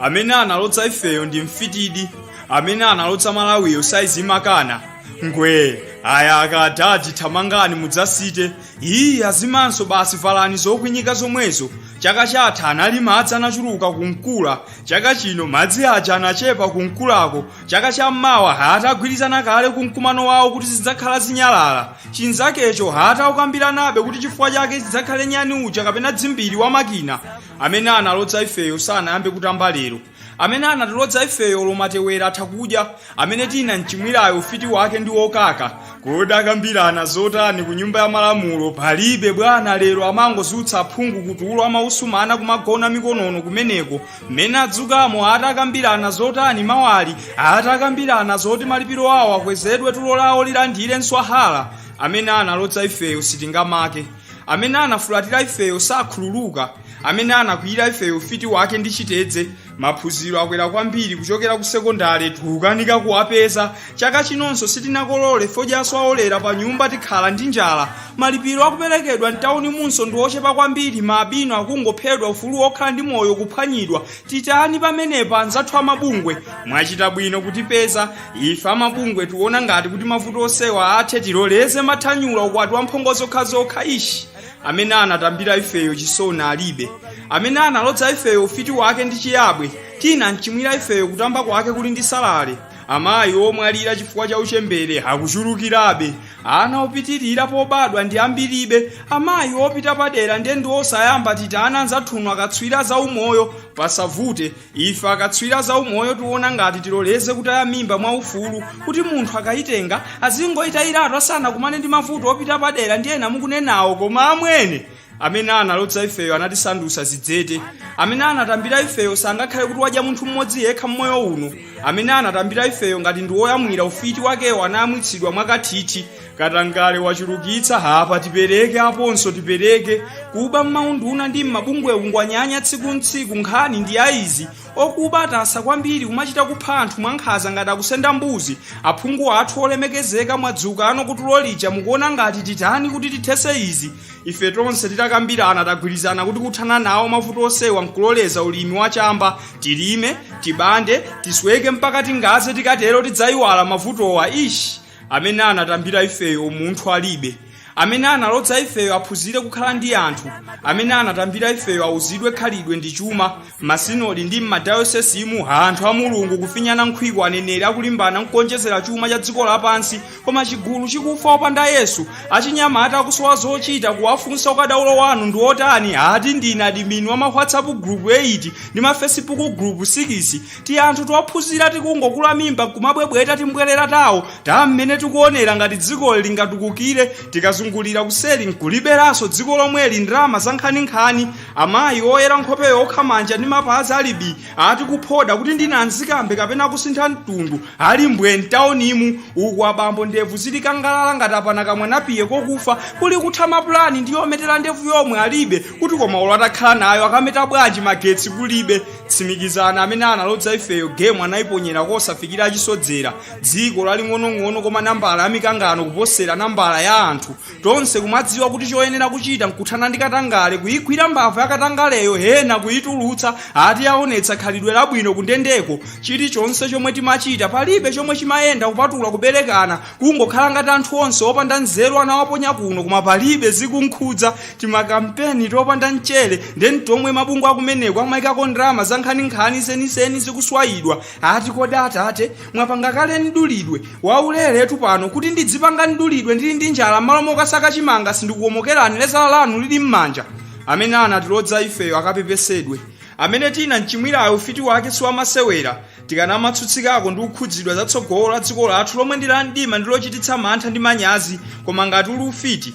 amene analodza ifeyo ndi mfitidi amene analodza malawiyo saizi imakana ngwee ayaka adadi thamangani mudzasite iyi azimanso basi valani zokwinyika zomwezo chaka chatha anali madzi anachuluka ku nkula chaka chino madzi aja anachepa ku nkulako chaka cha mmawa ata agwirizana kale kumkumano wawo kuti zidzakhala zinyalala chinzakecho ata aukambiranabe kuti chifukwa chake chidzakhale nyani uja kapena dzimbiri wa makina amene analodza ifeyo sanayambe kutamba lero amene anatilodza ifeyo olo matewera atha kudya amene tinamchimwirayo ufiti wake ndi wokaka kodi akambirana zotani ku nyumba ya malamulo palibe bwana lero amangodzutsa aphungu kutulo amausumana kumagona mikonono kumeneko mmene adzukamo ata akambirana zotani mawali ata akambirana zoti malipiro awo akwezedwe tulo lawo lilandire mswahala amene analodza ifeyo sitingamake amene anafulatira ifeyo sakhululuka amene anakwiyira ifeyo ufiti wake ndi chitedze maphunziro akwera kwambiri kuchokera ku sekondale tikukanika kuwapeza chaka chinonso sitinakolole fodyanso aolera pa nyumba tikhala ndi njala malipiro akuperekedwa mtawunimunso ndi ochepa kwambiri maalubino akungophedwa ufulu wokhala ndi moyo kuphwanyidwa titani pamenepa anzathu amabungwe mwachita bwino kutipeza ife amabungwe tiona ngati kuti mavuto onsewa athe tiloleze mathanyula ukwati wa mphongo zokhazokha ishi amene anatambira ifeyo chisoni alibe amene analodza ifeyo ufiti wake ndi chiyabwe tinamchimwira ifeyo kutamba kwake kuli ndi salale amayi omwalira chifukwa cha uchembere akuchulukirabe ana opitirira pobadwa ndi ambiribe amayi opita padera ndiye ndi osayamba titani anzathunu akatswiri a za umoyo pasavute ife akatswiri a za umoyo tiona ngati tiloleze kutaya mimba mwa ufulu kuti munthu akayitenga azingoyitayiratu asanakumane ndi mavuto opita padera ndi ena mukunenawo koma amwene amene analodza ifeyo anatisandutsa zidzete amene anatambira ifeyo sangakhale kuti wadya munthu mmodzi yekha mmoyo uno amene anatambira ifeyo ngati ndi woyamwira ufiti wakewo anayamwitsidwa mwakathithi katangale wachulukitsa apa tipereke aponso tipereke kuba mmaunduna ndi mmabungwe kungonyanya tsiku ntsiku nkhani ndi ya izi okuba atasa kwambiri kumachita kupha anthu mwankhanza ngati akusenda mbuzi aphungu athu olemekezeka mwadzukanu kutulo lija mukuona ngati titani kuti tithese izi ife tonse titakambirana tagwirizana kuti kuthana nawo mavuto onsewa nkuloleza ulimi wa chamba tilime tibande tisweke mpaka tingaze tikatero tidzayiwala mavutowa ishi amene anatambira ifeyo umunthu alibe amene analodza ifeyo aphunzire kukhala ndi anthu amene anatambira ifeyo auzidwe khalidwe ndi chuma M'masinodi ndi m'madayosesimu, anthu a Mulungu kufinyana nkhwiko, aneneri akulimbana nkuonjezera chuma cha dziko lapansi, koma chigulu chikufa opanda Yesu. Achinyamata akusowa zochita, kuwafunsa ukadaulo wanu ndi wotani, ati ndine adimini wa ma WhatsApp gulupu 8 ndi ma Fesibuku gulupu 6. Tianthu tophunzira tikungokula mimba nkumabwebweta timbwerera tawo ta mmene tikuonera ngati dziko lingatukukire, tikazungulira kuseri nkuliberanso dziko lomweli, ndalama zankhaninkhani, amayi oyera nkhope yokha manja ndi mapazi ali bi ati kuphoda kuti ndi nanzikambe kapena kusintha mtundu ali mbwe mtaunimu uku abambo ndevu zili kangalala ngati apana kamwanapiye kokufa kuli kutha mapulani ndi yometera ndevu yomwe alibe kuti koma olo atakhala nayo akameta bwanji magetsi kulibe tsimikizana amene analodza ifeyo gemu anayiponyera kosafikira achisodzera dziko laling'onong'ono koma nambala ya mikangano kuposera nambala ya anthu tonse kumadziwa kuti choyenera kuchita nkuthana ndi katangale kuyigwira mbava ya katangaleyo ena kuyitulutsa ati yaonetsa khalidwe labwino kundendeko chilichonse chomwe timachita palibe chomwe chimayenda kupatula kuberekana kungokhala ngati anthu onse opanda nzeru anawaponya kuno koma palibe zikunkhudza timakampeni topanda mchere nde ni tomwe mabungwe akumeneko amayikako ndalama za nkhaninkhani zenizeni zikuswayidwa ati kodi atate mwapanga kale mdulidwe wauleretu pano kuti ndidzipanga mdulidwe ndili ndi njala m'malo mokasaka chimanga sindikukomokerani lezala lanu lili m'manja amene anatilodza ifeyo akapepesedwe amene tinamchimwirayo ufiti wake siwamasewera tikanamatsutsikako ndi kukhudzidwa za tsogolo la dziko lathu lomwe ndi la mdima ndi lochititsa mantha ndi manyazi koma ngati uli ufiti